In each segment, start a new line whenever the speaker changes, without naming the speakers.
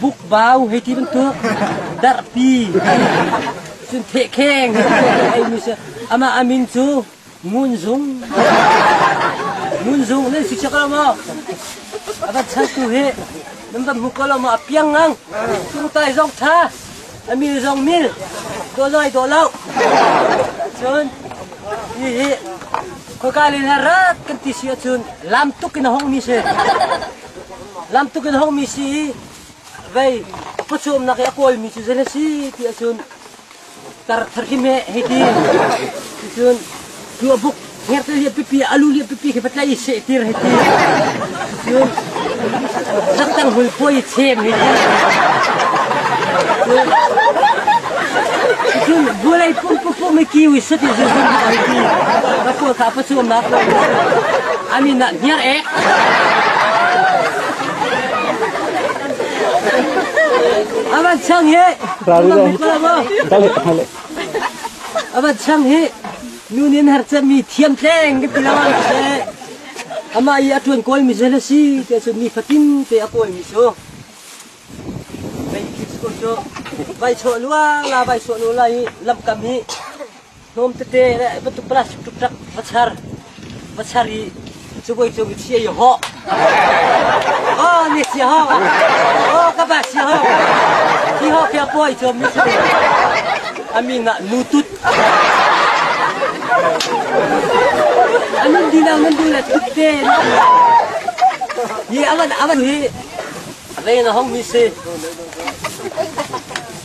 Bukbau hei ti bantuk darhpi cun thehkheng ei mi si. Amah a min cu Ngun Zung. Ngun Zung nan si cak lo maw? A van chan tu hi nan van hmu ko lo maw? A piang ngang. Cung tai zong tha, a mil zong mil, daw zong ai daw lo. Cun hi hi khoika le rat kan ti si ahcun lam tuk in a hong mi si. Lam tuk in hongmi si i vei a pawcawmnak i a kawlmi cu zeitin a si ti ahcun tar tharhim he hei ti. Ticun cu a buk ngerte liah pipi a lu liah pipi khi patlaih i seh tir hei ti. Ticun saktang hul puai i chem hei ti. Ticun bualei pum pum pum i kiu i sut i zulhun hei ti. Ka pawl kha a pawcawmnak an in ah hniar ek. Amat sang hi. Amat sang hi. Nunin har chan mi thiam tleng ka ti lo. Ama i a tuan koi mi se la si te sun mi fatin te a koi mi so. Vai thik sko cho. Vai cho lua la vai so nu la i lam kam hi. hnawm tete le bantuk plastic tuk va char va char i civui cung i chia i hawh aw ni sia hawh aw ka ba sia hawh hi hawh pia puai cuam ni si a mi ngah nu tut a nan du lo nan du le tut te ni avan avan hi rei na hong mi si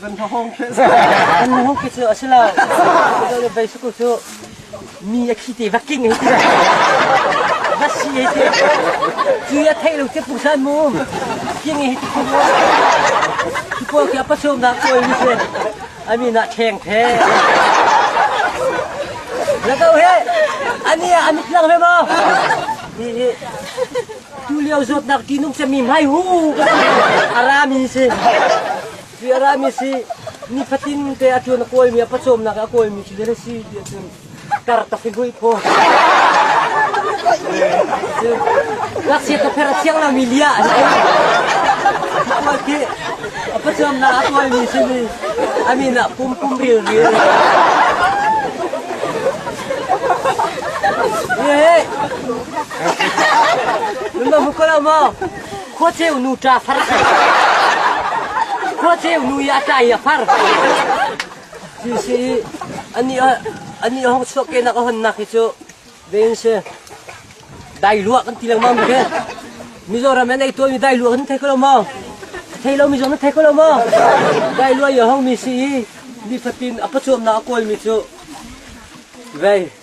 Van hnahawng khi Kan hnahawng khi cu a si lo. Zale bei su cu mi a khi te va king hei ti. Va si hei ti. Cu ya thei lo te pu san mum. King hei ti mu. Cu po kia pa sum na ko ni se. Ami na theng the. La kau he. Ani ani lang he ma. Ni Tulio zawtnak tihnung cemi hmai hu ka ti. A rami si. Ti a rami si. Ni fatin te a ṭuan a kawlmi a pacawmnak a kawlmi cu a si ti ahcun karta fi hui phaw. Ngakchiat na pher a thiang lomi lia a si. Kawl khi a pacawmnak a kawlmi si ni a min ah pum pum ril ril. Ye Numa hukal ma khuacheu nu ta far khuacheu nu ya ta ya far ti si ani ani hong chuak ke nak hon nak hi chu vein se dai lua kan ti lang ma mi ke Mizoram an ei to mi dai lua kan thei ko lo ma thei lo mi zong thei ko lo ma dai lua ya hong mi si ni fatin apa chuam na kol mi chu vei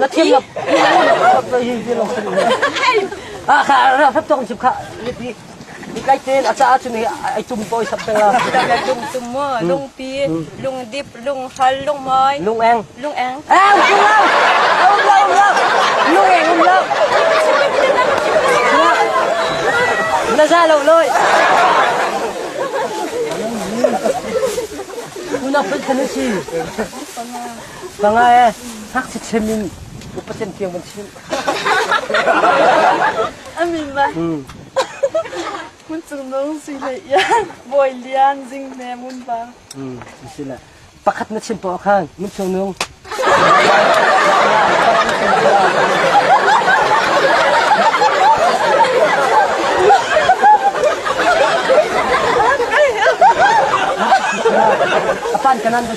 Na thiam lo. Ah kha ra phap tong chip kha lipi. Ni kai te a cha chu ni ai tum poi sap te la. Tum tum mo lung pi lung dip lung hal lung mai Lung eng. lung eng Ah um lo lung eng um lo. Na za lo loi. Una put kan si. Va nga e, ngakchia chim in upatem tiang van chim. Amin ba. Mun cung nung si le yan, boy lian jing ne mun ba. Hmm, si le. Pakhat na chim po khan, mun cung nung. Apan kanan